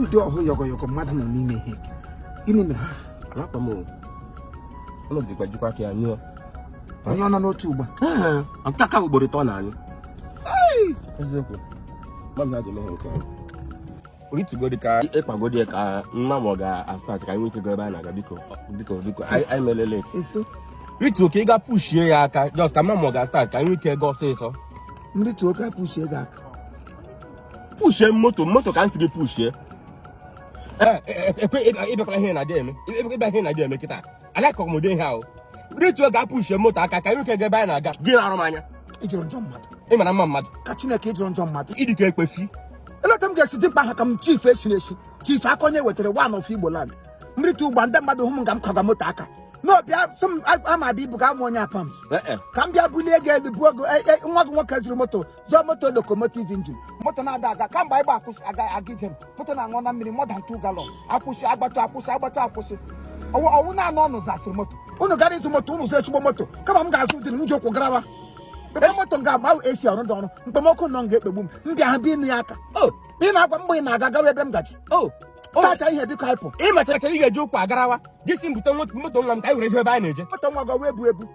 ụdị ọhụ yọgọyọgọ mmadụ nọ n'ime ihe gịnị mere alakpa m ụlọ dịkwa jikwa ka ya nyụọ onye ọ nọ n'otu ugba nke aka ugboro ịtọ na anyị eziokwu mmadụ na-adị mehe nke anyị ritugodi ka ị kpagodi ka m ma ma ọ ga-astart ka anyị nwee ike go ebe a na-aga biko biko biko anyị mere late rituo ka ị ga pushie ya aka just ka m ma ma ọ ga-astart ka anyị nwee ike go ọsịsọ m rituo ka pushie gị aka pushie moto moto ka m si gị pushie ị bịakwala ihe na-adị eme ị bịa ihe na-adị eme kịta alakọ m ụdị ihe ahụ rituo ga pushie moto aka ka anyị nwee ike ga ebe anyị na-aga gị na-arụ m anya ị jọrọ njọ mmadụ ị mara mma mmadụ ka Chineke ị jọrọ njọ mmadụ ị dị ka ekpefi eleta m ga-esi dimkpa ha ka m chief esiri esi chief aka onye wetara one of Igbo land m rita ugba ndị mmadụ hụ m ka m kwaga moto aka n'ọbịa sị m ama abịa ibu ga amụ onye apams ka m bịa bulie gị elu buo gị nwa gị nwoke zụrụ moto zụọ moto locomotive engine moto na-ada aga kamgbe anyị gba akwụsị aga aga ije moto na-aṅụ na mmiri more than two gallon akwụsị agbacha akwụsị agbacha akwụsị ọwụ ọwụ na-anụ ọnụ zasịrị moto unu gara ịzụ moto unu zụọ ezigbo moto kama m ga-azụ ụdị m ji ụkwụ garawa ebe moto m ga-agba esi ọrụ dị ọrụ mkpomọkụ nọ m ga-ekpegbu m m bịa ha bi ịnụ ya aka Oh, ị na-agwa mgbe ị na-aga gawa ebe m gaji oh, oh. stacha ihe biko hapụ ị machara chara ị ga-eji ụkwụ agarawa gị si m bute moto nwa m ka anyị were jee ebe anyị na-eje moto nwa gị ọ wụ ebu ebu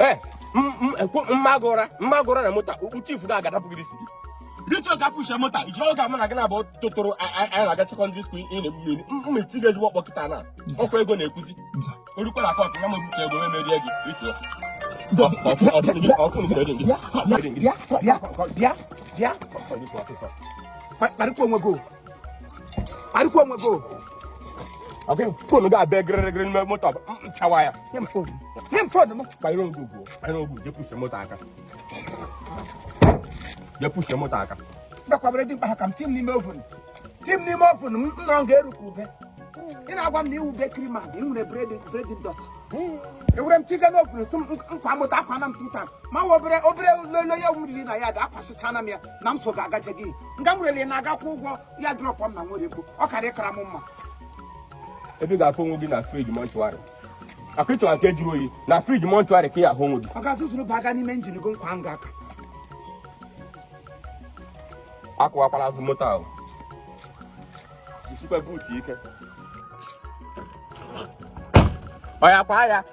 ee mmagụra mmagụra na moto chief na aga adapụ gị isi biko ga pushie moto iji oge mụ na gị na-abụ totoro anyị na-aga secondary school ị na-egbu mmiri m ma eti gị ezigbo ọkpọ kịta na ọkwa ego na-ekwuzi o rukwa na court nwa m ebute ego m emerie gị rituo bịa bịa bịa bịa kparịkwa onwe gị arịkwa onwe gị ọkụ phone gị abịa gịrịrịgịrị n'ime moto chawa ya nye m phone nye m phone m kpanyere ogu ugwu kpanyere ogu je pushie moto aka je pushie moto aka mgbakwabere dimkpa ha ka m tii m n'ime oven tii m n'ime oven m nọ m ga-eru ka ube ị na-agwa m na ị wụ bakery ma ị nwere bread bread ndọtị ewere m tiga n'oven sị m m kwaa moto ọkwa na m tuta ma obere obere lolo ya wuriri na ya da akwasịchana m ya na m so ga-agaje gị nga m rere na-agakwa ụgwọ ya drop m na Owerri bụ ọ karị kara m mma ebe ị ga-afụ onwe gị na fridge mortuary akụ ị chọwa nke jụrụ oyi na fridge mortuary ka ị ahụ onwe gị ọga zuzuru baga n'ime engine gị kwaa nga aka akụwakwala azụ moto ahụ jisikwa boot ike ọ ya kwa ya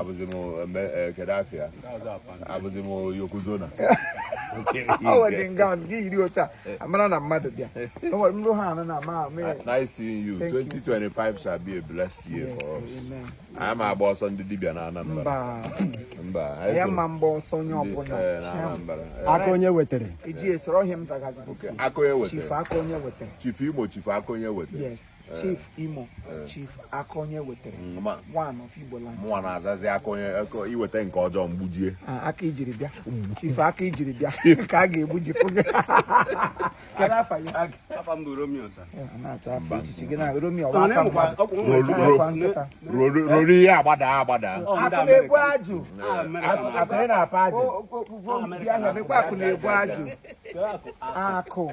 abụzi m eh, kedu afa ya abụzi m yokozona amara na mmadụ bịa nrụ ha anụ na ma nice seeing you 2025 shall be a blessed year for us anyị ama agba ọsọ ndị dibịa na Anambra mba ya ma mgba ọsọ onye ọbụla aka onye wetara iji esoro ọ ihe m zagazi aka onye wetara chief imo chief aka onye wetara eh. chief imo eh. chief aka onye wetara mm, one of igbo land mụnwa na-azazi aka onye i weta nke ọjọọ m gbujie ah, aka ijiri bịa mm. chief aka ijiri bịa ka a ga-egbujipụ gị ruru ihe agbada agbada akụ na-ebu ajụ akụ na-ebu ajụ akụ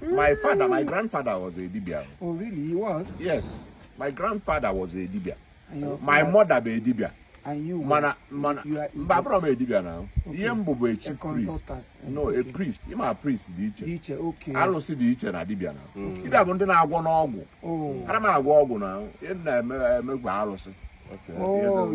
My father, my grandfather was a dibia. Oh, really? He was? Yes. My grandfather was a dibia. My mother bụ dibia. mana mana mba abụrọ m a dibia na ihe m bụ bụ a chief priest no a priest ịma priest dị iche alụsị dị iche na dibia na dibia bụ ndị na-agwọnụ ọgwụ oh. ana m agwọ ọgwụ na na-emegwa alụsị oh,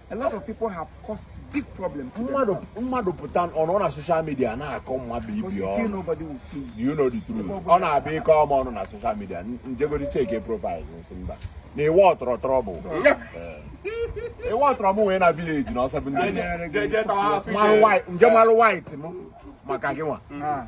a lot of people have caused big problems to themselves. mmadụ pụta ọ nọ na social media na-akọ mmadụ Because ibi you feel ọnụ nobody will see you. you know the truth Ebe ọ bụla- ọ na-abịa ịkọ m ọnụ na social media m jegodi checkie profile m sị mba na iwe ọtọrọ trouble iwe ọtọrọ m wee na village na ọsọ bụ ndị Jee- jee tawa afọ ike. m je malụ white m maka gịnwa Ah.